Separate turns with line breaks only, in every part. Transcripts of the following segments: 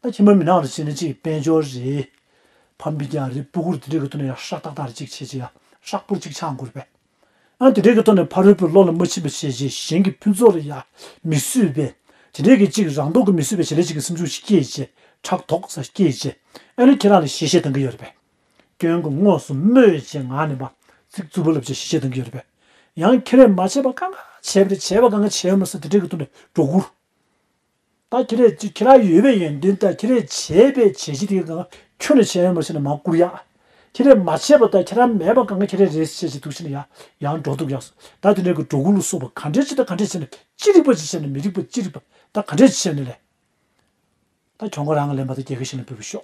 ད་ཁྱིམ་པར་མི་ནང་དུ་བྱས་ནས་ཅིག་དཔལ་འབྱོར་རེད། ཕམ་པས་ཀྱང་རི་སྤུ་གུར་དེ་འདྲའི་གི་ཐོག་ནས་ཧྲག་ཏག་ཏག་ཅིག་བྱས་རྗེས་ཧྲག་སྤུར་ཅིག་ཆགས་འགོར་པས། ཡང་དེ་འདྲའི་གི་ཐོག་ནས་ཕ་རོལ་པོའི་བློ་ལ་མ་ཕྱིན་པ་བྱས་རྗེས་གཞན་གྱི་ཕུན་ཚོགས་ལ་ཡང་མི་བསུས་པས་དེ་འདྲའི་གི་ཅིག་རང་མདོག་གི་མི་བསུས་པའི་བྱེད་ལས་ཅིག་གི་སེམས་ཆུང་ཞིག་སྐྱེས་རྗེས་ཕྲག་དོག་ས་སྐྱེས་རྗེས་ཨ་ནི་ཁྱེད་རང་ལ་ཞེ་བཤད་གཏང་གི་ཡོད་རེད་པས། སྐྱོན་གྱི་དངོས་སུ་སྨོས་ཅེས་ངག་ནས་འབའ་ཚིག་རྩུབ་པོ་ལབ་རྗེས་ཞེ་བཤད་གཏང་གི་ཡོད་རེད་པས། ཡང་ཁྱེད་རས་མ་བྱས་པ་གང་ག་བྱས་པ་རེད་བྱས་པ་གང་ག་བྱས་མ་ཟེར་དེ་འདྲའི་གི་ཐོག་ནས་སྒྲོ་སྐུར། ད་ཁྱེད་རས་ཀྱིས་ཁྱེད་ར་ཡོད་པའི་ཡོན་ཏན་དང་ཁྱེད་རས་བྱས་པའི་བྱས་གཞི་དེ་གང་ཁྱོད་ནས་བྱས་ཡོད་མ་བྱས་ན་མ་བསྐུར་ཡ། ཁྱེད་རས་མ་བྱས་པ་དང་ཁྱེད་ར་མེད་པ་གང་ཁྱེད་རས་རས་བྱས་བྱས་འདུག་བྱས་ན་ཡ། ཡང་འགྲོ་འདུག་ཡ། ད་དེ་འདྲའི་གི་འགྲོ་ཀུན་ལུགས་སོགས་པ་ག་འདྲའི་བྱས་དང་ག་འདྲའི་བྱས་ན་ཅི་རིགས་པ་ཅི་བྱས་ན་མི་རིགས་པ་ཅི་རིགས་པ་ད་ག་འདྲའི་བྱས་ནས་ལས། ད་ཁྱོད་ཁོ་རང་གི་ལས་མ་ད་རྒྱལ་ཁ་ཞིག་ལ་འབུལ་བར་ཤོག།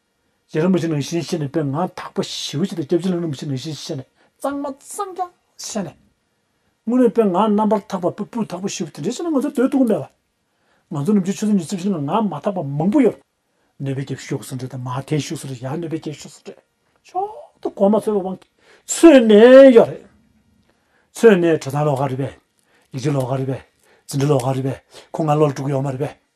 ལས་རིན་པོ་ཆེ་ནང་བཞིན་བཤད་ནས་དཔེ་ང་དག་པོ་ཞིབ་ཕྱི་དང་སྐྱབས་བཅོལ་ལས་རིན་པོ་ཆེ་ནང་བཞིན་བཤད་ནས་གཙང་མ་གཙང་རྐྱང་བཤད་ནས། དངོས་གནས་དཔེ་ང་རྣམ་པར་དག་པ་དཔེ་སྤུ་དག་པོ་ཞིབ་དེ་འདྲས་བཤད་ན་ང་ཚོར་དོད་ཐུག་གི་མེད་པ། ང་ཚོ་ནམ་རྒྱུན་ཆོས་ཚོགས་ཀྱི་སྤྱི་བཤད་ལ་ང་མ་དག་པ་མང་པོ་ཡོད། གནོད་པའི་སྐྱབས་ཤོག་སུ་འདྲེས་དང་མ་དེའི་ཤོག་སུ་འདྲེས་ཡང་གནོད་པའི་སྐྱབས་ཤོག་སུ་འདྲེས་མཆོག་ཏུ་གོ་མ་ཚོལ་བའི་དབང་གིས་ཚོས་ནས་ཡོད་རེད། ཚོས་ནས་དྲོད་ཚང་ལོག་ག་རེད་པས། ལས་ཀྱི་ལོག་ག་རེད་པས། ཟིན་བྲིས་ལོག་ག་རེད་པས་ཁོ་ང་བློ་ལ་སྤྲོ་གི་ཡོད་མ་རེད་པས།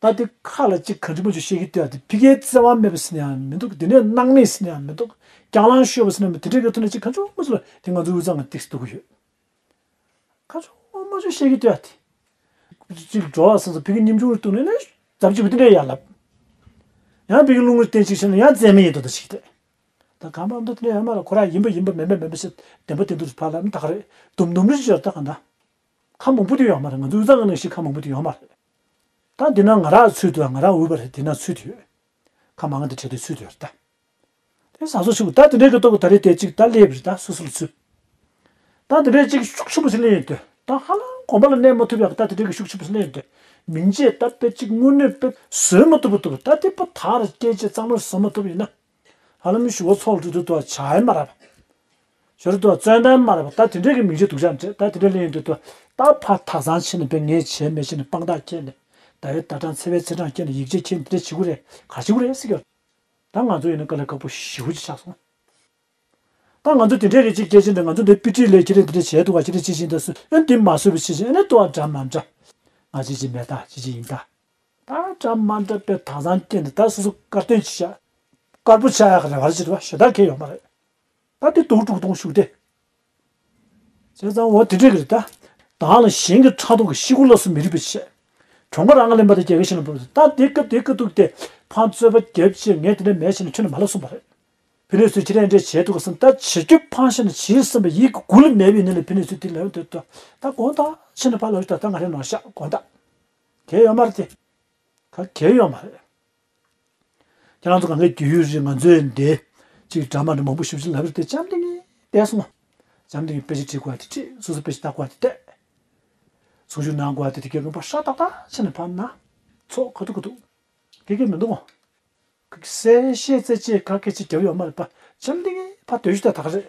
ད་དེ་ཁ་ལ་ཅིག་ག་འདྲི་མོ་ཅིག་བཤད་ཀི་ལྟོས་ཨ་དེ་ཕི་ཀའི་བརྩེ་བ་མེད་པ་ཟེར་ནི་ཡང་མི་འདུག་དེ་ནས་སྣང་མེད་ཟེར་ནི་ཡང་མི་འདུག་རྒྱང་ལང་ཤོར་བ་ཟེར་ནའང་མི་འདུག་དེ་འདྲ་གི་ཐོག་ནས་ཅིག་ག་འབྱུང་མ་ཅིག་ལ་དེ་ང་ཚོ་འུ་ཚང་གི་སྟེགས་སུ་འདུག་གི་ཡོད། ག་འབྱུང་མ་ཅིག་བཤད་ཀི་ལྟོས་ཨ་དེ། ཅིག་འགྲོ་བ་སོང་སོང་ཕི་ཀའི་སྙིང་ཆུང་རེ་བཏུང་ནས་ནི་ཛབ་ཅིག་གུ་དེ་འདྲའི་ཡར་ལབ། ཡང་ཕི་ཀའི་རླུང་རེ་བསྟན་ཅིག་བྱས་ན་ཡང་རྩེད་མེད་ཡིན་འདུག་ད་ཅིག་གི་ལྟོས་ད་གང་ཕབ་འདུག་དེ་ནས་ཡང་མ་ལ་ཁོ་ར་ཡིན་པ་ཡིན་པ་མེད་པ་མེད་པ་ཞིག་བདེན་པ་བདེན་དུ་རེ་ཕབ་ལ་ནི་ད་ག་རེ་དུམ་དུམ་རེ་ཞིག་ཡོད་ད་ག་ན། ཁ་མང་པོ་དེ་ཡོད་མ་རེད་ང་ཚོ་འུ་ཚ་ང་ནང་ཞིག་ཁ་མང་པོ་དེ་ཡོད་མ་རེད། ད་འདི་ན་ང་རང་ཚུད་དུ་ང་རང་འུ་བ་རེད་འདི་ན་ཚུད་དུ་ཡོད། ཁ་མང་དེ་བྲལ་དུ་ཚུད་དུ་ཡོད་རེད་ད། དེ་ཟ་ཟོ་ཆུ་བོ་ད་དེ་འདྲས་ཀྱི་ཏོག་གི་ད་རེད་དེ་གཅིག་ད་སླེབས་རེད་ད་སོ་སོ་ལ་ཚུད། ད་དེ་འདྲས་གཅིག་ཤུགས་ཆེན་པོ་ཞིག་སླེབས་ཡོད་དུས་ད་ཧ་ལམ་གོམ་པ་ལ་གནས་མ་ཐུབ་ཡག་ད་དེ་འདྲས་ཀྱི་ཤུགས་ཆེན་པོ་ཞིག་སླེབས་ཡོད་དུས་མིང་རྗེས་ད་དཔེ་གཅིག་དངོས་གནས་དཔེ་བཟོས་མ་ཐུབ་པ་ཐུབ་ད་དེ་པོ་ད་རེད་སྐད་ཆ་གཙང་མ་བཟོ་མ་ཐུབ་ཡིན་ན་ཧ་ལམ་ཞུ་བ་ཚོགས་སྤྲུལ་དུ་ཏོ་བྱ་ཨེ་མ་རབ། ཞོ་རུ་ཏོ་བཙོན་དར་མ་རབ་ད་དེ་འདྲས་ཀྱི་མིང་ཅིག་འདུག་བྱ་འདྲེ་ད་དེ་འདྲས་ལས་ཡིན་འདུག་ཏོ་ད་ཕ་ཐག་ཚང་ཕྱེ་ནས་པས་ངས་བྱས་མེད་བྱས་ནས་དཔང་རྟགས་ཁྱེར་ནས་ད་རེ་ད་གྲངས་ཚེ་བས་ཚེ་གྲངས་བསྐྱལ་ནས་ཡིག་ཆས་ཁྱེར་ནས་དེ་འདྲས་བྱེད་ཁུ་རེ་ག་བྱེད་ཁུ་རེ་སི་ཀ། ད་ང་ཚོ་ཡིན་ན་དཀའ་ལས་དཀའ་པོ་ཞེའུ་ཅིག་ཆགས་སོང། ད་ང་ཚོ་དེ་འདྲས་རེ་ཅིག་བསྐྱལ་ཕྱིར་ནས་ང་ཚོ་འདི་པི་ཏི་ལས་ཁྱེར་ནས་དེ་འདྲས་བྱས་འདུག་ག་ཁྱེར་ནས་ཅི་བྱེད་འདི་སུ་ཨེ་འདི་མ་བཟོས་པ་ཅི་བྱེད་ཨེ་ནས་ཏོ་ཨ་འདྲ་མ་འདྲ། ང་ཅི་བྱེད་མེད་ད་ཅི་བྱེད་ཡིན་ད། ད་ཅང་མ་འདྲ་པའི་དྭངས་གཙང་སྐྱེས་འདི་དག་སོ་སོ་དཀར་སྟོན་གྱིས་བྱ། དཀར་པོ་བྱ་ཡག་རེད་བར་བྱེད་པ་ཞེ་དྲག་ཁེལ་ཡོང་པ་རེད། ད་དེ་དུག་དཀྲུག་གཏོང་ཤུགས་ཏེ། བྱས་ཙང་འོ་དེ་འགྲིག་གི་རེད་ད། དྭངས་ལ་གཞན་གྱི་ཕྲག་དོག་གི་གཤིས་ཀུན་ལ་སོ་མི་རིག་པའི་ཆེད། གྲོང་སྐོར་ཨང་གླིང་པ་དང་རྒྱལ་ཁའི་ཤིང་ལ་འབུར་བ་དེ་ད་དེ་སྐབས་དེ་སྐབས་འདུག་སྟེ་ཕང་བཙོས་པ་རྒྱབ་ཕྱིར་ངས་དེ་འདྲ་མེད་བྱས་ན་ཁྱོད་ནི་མ་ལབ་གསུངས་པ་རེད། ཕི་ནི་སུ་ཁྱི་རེ་འདྲས་བྱས་འདུག་ག་བསམ་ད་བྱེད་ཁྱོད་ཕང་ཤ་ནི་བྱིས་བསམ་པ་ཡིད་ཀྱི་གུ་ལུ་མེད་པའི་ནི་ལ་ཕི་ནི་སུ་དེ་ལས་འོད་འདོད་དོ་ད་དགོངས་དག་ཕྱི་ནི་ཕ་ལབ་ཤི་ད་ད་ང་རེ་ནང་བཤགས་དགོངས་དག། གལ་ཡོད་མ་རེད་དེ། ད་གལ་ཡོད་མ་རེད། ཁྱེད་རང་ཚོ་གངས་ཀྱི་རྒྱུས་ཡོད་རེད་ང་ཚོའི་འདི། གཅིག་དྲ་མ་འདྲ་མང་པོ་ཞིབ་ཞིབ་ལབ་རེད་དེ་བྱམས་ལྡིང་གིས་བལྟས་སོང། བྱམས་ལྡིང་གིས་དཔེ་ཆ་བྲིས་དགོས་དེ་བྲིས་སོ་སོས་དཔེ་ཆ་བལྟ་དགོས་དེ་བལྟས། ཚོགས་ཞུགས་གནང་དགོས་དེ་དེ་གའི་དགོན་པ་ཧྲ་ཏག་ཏག་ཕྱི་ནས་ཕབ་ན་ཚོགས་ག་ཐུག་ག་ཐུག་གི་གི་མི་འདུག་གོ། གསལ་བཤད་རྩེད་ཆས་ག་གེ་ཅི་བརྒྱབ་ཡོད་མ་རེད་པ་བྱམས་ལྡིང་གིས་ཕ་དོད་ཞུས་ཏག་ཏག་རེད།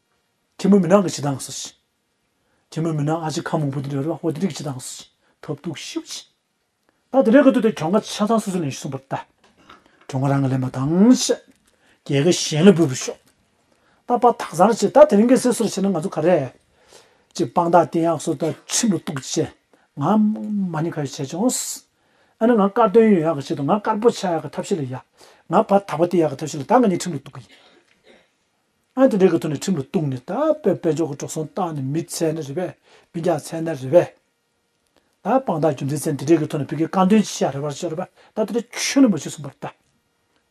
ཁྱི་མོ་མི་ནག་གི་བྱེད་སྟངས་སུ་ཤི། ཁྱི་མོ་མི་ནག་ཨ་ཅེ་ཁ་མང་པོ་དེ་འདྲ་རུ་ཨ་ཧོ་དེ་འདྲའི་བྱེད་སྟངས་སུ་ཤི་ཐབས་སྡུག་ཤི་བ་ཤི། ད་དེ་འདྲའི་གི་དུས་དེ་གྱོང་ཁ་ཆ་ཚང་སུ་སུ་ལེན་ཤི་གསུངས་པར་ལྟ། གྱོང་ཁ་རང་གི་ལེན་པ་དང་ཤི། རྒྱལ་ཁ་གཞན་ལ་འབུལ་བར་ཤོག། ད་པ་དག་བཟང་རེ་བྱེད་ད་དེ་རིང་གི་སེ་སོར་བྱེད་ན་ང་ཚོ་ག་རེ། ཅིག་དཔང་རྟགས་བསྟན་ཡག་སོ་ད་ཁྱི་མོ་སྟུག་བྱེད་ང་མ་ཉེ་ཁ་ཡོད་བྱས་ཅོང་སི། ཨ་ནི་ང་དཀར་དོན་ཡོད་ཡག་གི་བྱེད་དུ་ང་དཀར་པོ་ཆགས་ཡག་གི་ཐབས་ཤེས་ལ་ཡ། ང་བ་དག་པ་བསྟན་ཡག་གི་ཐབས་ཤེས་ལ་ད་ང་ཉེ་ཁྲིམས་ལ་སྟུག་གི་ཡིན། ཨང་དེ་འདྲའི་གི་ཐོག་ནས་ཁྲིམས་ལ་གཏུགས་ནས་ད་དཔེ་དཔེ་འཇོག་གི་གྲོགས་སོང་བཏང་ནས་མི་ཚད་ན་རེད་པས་མི་རྒྱག་ཚད་ན་རེད་པས། ད་དཔང་རྟགས་རྒྱུ་མཚན་ཚན་དེ་འདྲའི་གི་ཐོག་ནས་བོད་རྒྱའི་བཀའ་འདོན་ཅི་བྱ་རེད་པ་ཤོད་རེད་པས་ད་དེ་འདྲ་ཁྱོད་ནས་མ་བྱེད་གསུངས་པ་རེད་ད།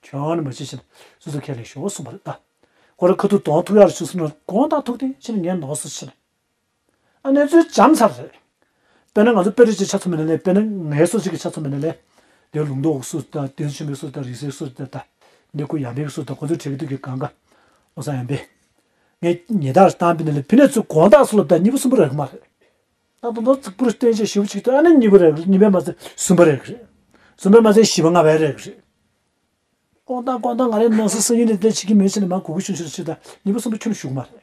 ཁྱོད་ནས་མ་བྱེད་ཤེས་ན་སུས་ཚོ་ཁས་ལེན་ཤོག་གསུངས་པ་རེད་ད། ཁོ་རང་ཁ་ཐུག་དོང་ཐུག་ཡར་ཕྱུང་སོང་ནས་གོང་ལྟར་ཐུག་དེ་ཕྱིན་ངའི་ནང་སོ་ཕྱིན། ཨ་ནེ་ཚོའི་བྱམས་ཚར་རེད། དཔེར་ན་ང་ཚོ་དཔེ་རིས་ཀྱི་ཆ་ཚོ་མེད་ན་ལེ་དཔེར་ན་ངའི་སོ་སོ་ཀྱི་ཆ་ཚོ་མེད་ན་ལེ། དེ་ལུང་མདོ་བོ་སུ་ད་བསྟན་ཆོས་མེད་སུ་ད་རིག་གསལ་སུ་ད་ད་ནེ་སྐུ་ཡང་ལྡན་སུ་ད་ཁོ་ཚོའི་གྲས་ཀྱི་སྟོད་ཀྱི་གངས་དཀར་ཨོ་ས་ཡང་བེ། ངས་ཉེ་དག་རེ་བཏང་བེ་ན་ལེ་བེ་ནེ་ཚོའི་གོང་དག་སུ་ལ་ད་གཉིས་པོ་གསུམ་པོ་རེག་མ་རེད། ད་དོན་དོན་ཙིག་པུ་རུ་བསྟན་བྱས་བཞི་བོ་གཅིག་ཏུ་ཨ་ནེ་གཉིས་པོ་རེག་རེད་གཉིས་པས་མ་ཚད་གསུམ་པ་རེག་རེད། གསུམ་པས་མ་ཚད་བཞི་བ་ལྔ་བས་རེག་རེད། ཀོང་ཏག་ཀོང་ཏག་ང་རེ་ནང་སེ་སེ་ཡིན་ནེ་དེ་བྱེད་ཀྱི་མེད་བྱེད་ནེ་མ་གོ་གི་ཆུང་ཆུང་རེ་བྱེད་ད་གཉིས་པོ་གསུམ་པོ་ཁྱོད་ནི་ཞུགས་མ་རེད།